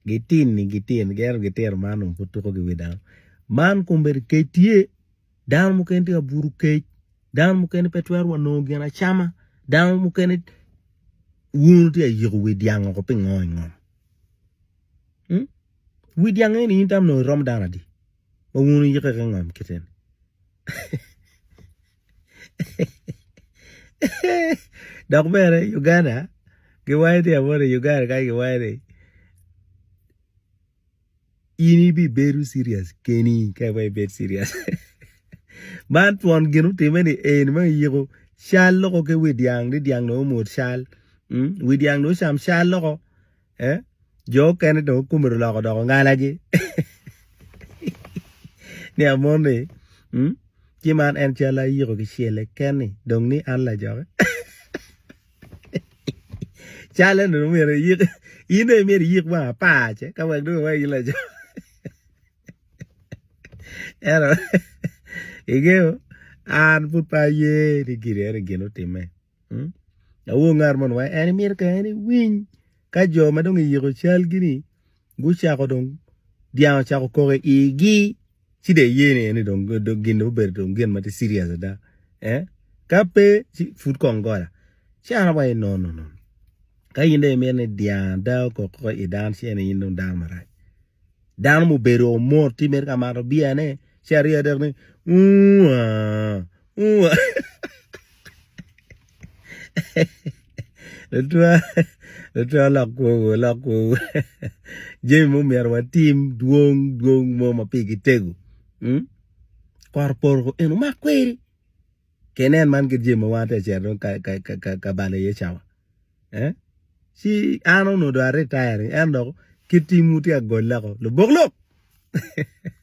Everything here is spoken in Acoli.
Gitini gitino gin ento gitino man onongo pud tuko ki wi dano. Man kombeddi kec tye dano mukene tye ka buto kec dano mukene pe twero wa nongo gin acama dano mukene wuno tye ka yiko wi dyang woko pingo i ngom mm wi dyang eni in tam onongo irom dano adi ma wuno yike ki ngom kit eni. Dok bene Uganda giwaco ni amoni i Uganda kany giwaco ni in ibibedo cirious keni ka iweko ibed cirious man twon gin otime ni eni ma iyiko cal loko ki wi dyang ni dyang dong omwod cal wi dyang dong ocam cal loko Jo okene dong kome oloko odoko ngalagi nia mon ni ci man en cal ayiko kicele keni dong ni an lajoki cal eni dong myero iyik in dong myero iyik wang apar ce ka wek dong iwai in laco ento ingeyo an pud pe aye ni gin eni gin otimme. Awor ngat mo ni wai en imito kong en iwiny ka jo ma dong iyiko calgi ni gucako dong dyang ocako koko i igi ci dong iye ni eni dong gin ni obedo dong gin ma tye cirias ada ka pe ci pud kong gola ci an awaci nono ka in dong imito ni dyang ada okok koko i dan ci en aye in dong dano marac. Dano mubedo omor tye mere ka mato beer ne ci arye adek ni uu aah uu aah lutwa lok kwowu lok kwowu jami mogo myero watim dwong dwong mo ma pigi tego kot oporo ko eno mak kweri. Kenen man kit jami ma wan atye ka cito dong ka balo iye cawa. Ci an onongo dong aritaya ni, en dok kit timwu tye ka golle woko, lubok lok!